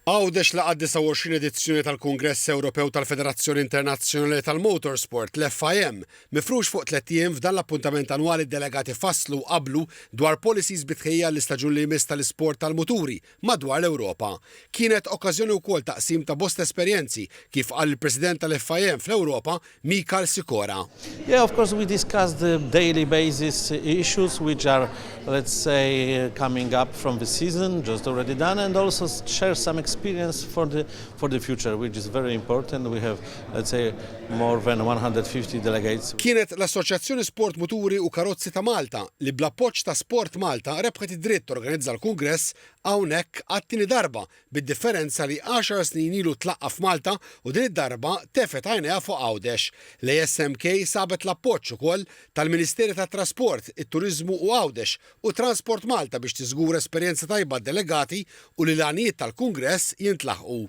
Għawdex laqa' d-29 edizzjoni tal-Kungress Ewropew tal-Federazzjoni Internazzjonali tal-Motorsport, l-FIM. Mifrux fuq tlett ijiem, f'dan l-appuntament annwali d-delegati fasslu u qablu dwar policies bi tħejjija għall-istaġun li jmiss tal-isport tal-muturi madwar l-Ewropa. Kienet okkażjoni wkoll ta' qsim ta' bosta esperjenzi, kif qal il-President tal-FIM fl-Ewropa, Michal Sikora. Yeah, of course we discuss the daily basis issues which are let's say coming up from the season just already done and also share some experience for the for the future which is very important we have let's say more than 150 delegates. Kienet l-Assoċjazzjoni Sport Muturi u Karozzi ta' Malta li bl-appoġġ ta' Sport Malta rebħet id-dritt torganizza l-kungress hawnhekk għat-tieni darba bid-differenza li għaxar snin ilu tlaqqa' f'Malta u din id-darba tefgħet għajnejha fuq Għawdex. L-ASMK sabet l-appoġġ ukoll tal-Ministeri tat-Trasport, it-Turiżmu u Għawdex u Transport Malta biex tiżgura esperjenza tajba għad-delegati u li l-għanijiet tal-kungress jintlaħqu.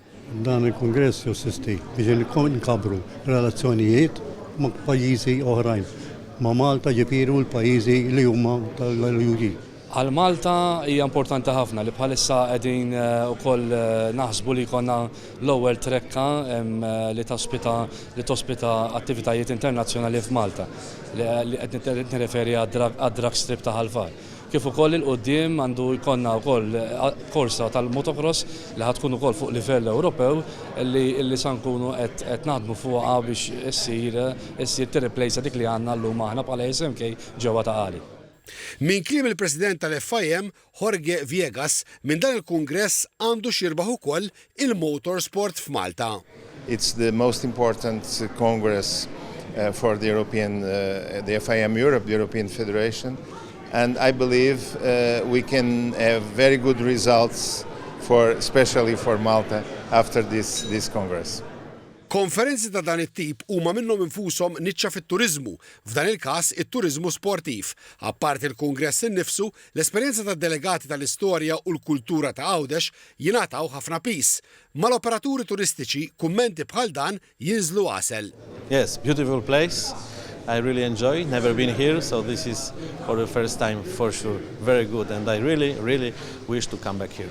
Dan il-kungress josisti biex inkabbru r-relazzjonijiet ma' pajjiżi oħrajn ma' Malta, ġifieri u l-pajjiżi li huma tal-UE. Għal Malta hija importanti ħafna li bħalissa qegħdin ukoll naħsbu li jkollna l-ewwel trekka li tospita li tospita attivitajiet internazzjonali f'Malta, li qed nirreferi għad-Drag Strip ta' Ħal Far. Kif ukoll 'il quddiem għandu jkollna wkoll korsa tal-motocross li ħa tkun ukoll fuq livell Ewropew li sa nkunu qed naħdmu fuqha biex issir issir tirriplejsa dik li għandna llum aħna bħala SMK ġewwa Ta' Qali. Minn kliem il-President tal-FIM, Jorge Viegas, minn dan il-kungress għandu x'jirbaħ ukoll il-motorsport f'Malta. It's the most important congress for the European, the FIM Europe, the European Federation and I believe we can have very good results for especially for Malta after this this congress. Konferenzi ta' dan it-tip huma minnhom infushom niċċa fit-turiżmu, F'dan il-każ, it-turiżmu sportiv. Apparti l-kungress innifsu, l-esperjenza tad-delegati tal-istorja u l-kultura ta' Għawdex jingħataw ħafna piż. Mal-operaturi turistiċi, kummenti bħal dan jinżlu għasel. Yes, beautiful place, I really enjoy, never been here so this is for the first time for sure, very good and I really, really wish to come back here.